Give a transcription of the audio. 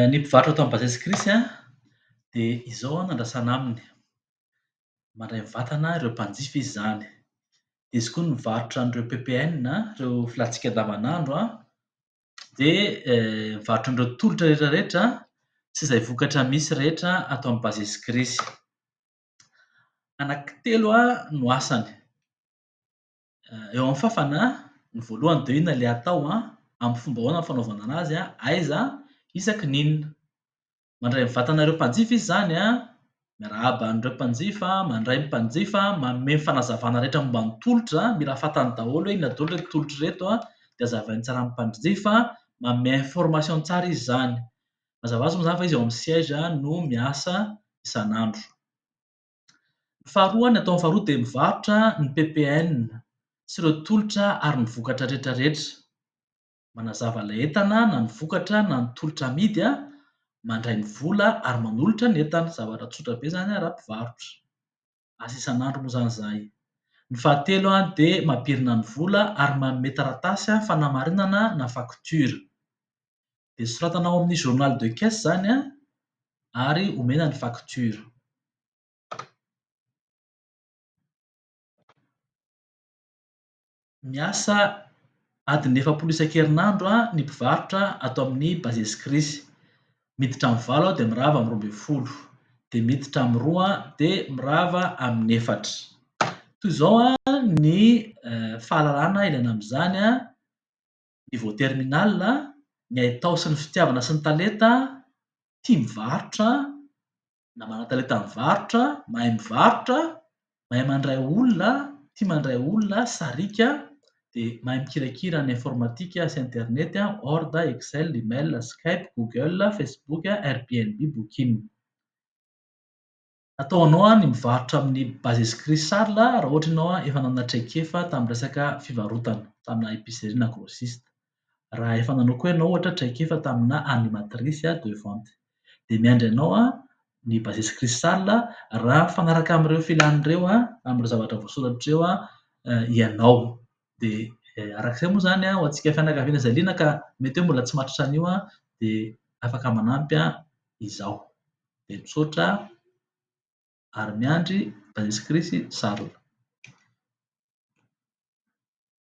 Ny mpivarotra tao amin'ny Base Sikrisy an, dia izao an no andrasana aminy, mandray vatana ireo mpanjifa izy izany. Dia izy koa no mivarotra an'ireo PPN an, ireo filatsika andavanandro an. dia mivarotra an'ireo tolotra rehetra rehetra sy izay vokatra misy rehetra ato amin'ny Bases Gresy. Anaky telo no asany. Eo amin'ny fafana, ny voalohany dia inona ilay atao, amin'ny fomba ahoana ny fanaovana anazy, aiza, isaky ny inona. Mandray ny vatanareo mpanjifa izy izany an! Miarahaba an'ireo mpanjifa, mandray ny mpanjifa, manome ny fanazavana rehetra momba ny tolotra, mila fantany daholo hoe inona daholo ireto tolotra ireto an! dia azavainy tsara amin'ny mpanjifa, manome information tsara izy izany. Mazava ho azy moa izany fa izy ao amin'ny siège no miasa isan'andro. Ny faharoa, ny ataony faharoa dia mivarotra ny PPN sy ireo tolotra ary ny vokatra rehetra rehetra. manazava ilay entana na ny vokatra na ny tolotra amidy, mandray ny vola ary manolotra ny entana, zavatra tsotra be izany raha mpivarotra, asa isan'andro moa izany izahay. Ny fahatelo dia mampirina ny vola ary manome taratasy fanamarinana na facture. Dia soratana ao amin'ny journal de caisse izany ary omena ny facture. miasa adiny efapolo isan-kerinandro ny mpivarotra ato amin'ny Bases Crise. Miditra amin'ny valo aho dia mirava amin'ny roa ambin'ny folo, dia miditra amin'ny roa dia mirava amin'ny efatra. Toy izao ny fahalalana ilaina amin'izany, niveau terminal, ny haitao sy ny fitiavana sy ny talenta, tia mivarotra. na manan-talenta mivarotra, mahay mivarotra, mahay mandray olona, tia mandray olona, sariaka, dia mahay mikirakira ny informatika sy internet, word, excel, email, skype, google, facebook, airbnb, booking. Atao anao ny mivarotra amin'ny bases crisal raha ohatra ianao efa nanana traikefa tamin'ny resaka fivarotana, tamina epicerie na grossiste. raha efa nanao koa ianao ohatra traikefa tamina animatrice de vente dia miandry anao ny bases crucial raha mifanaraka amin'ireo filany ireo amin'ireo zavatra voasoratra ireo ianao dia araka izay moa izany ho antsika fianakaviana izay liana ka mety hoe mbola tsy mahatratra an'io dia afaka manampy izaho dia misaotra ary miandry bases crucial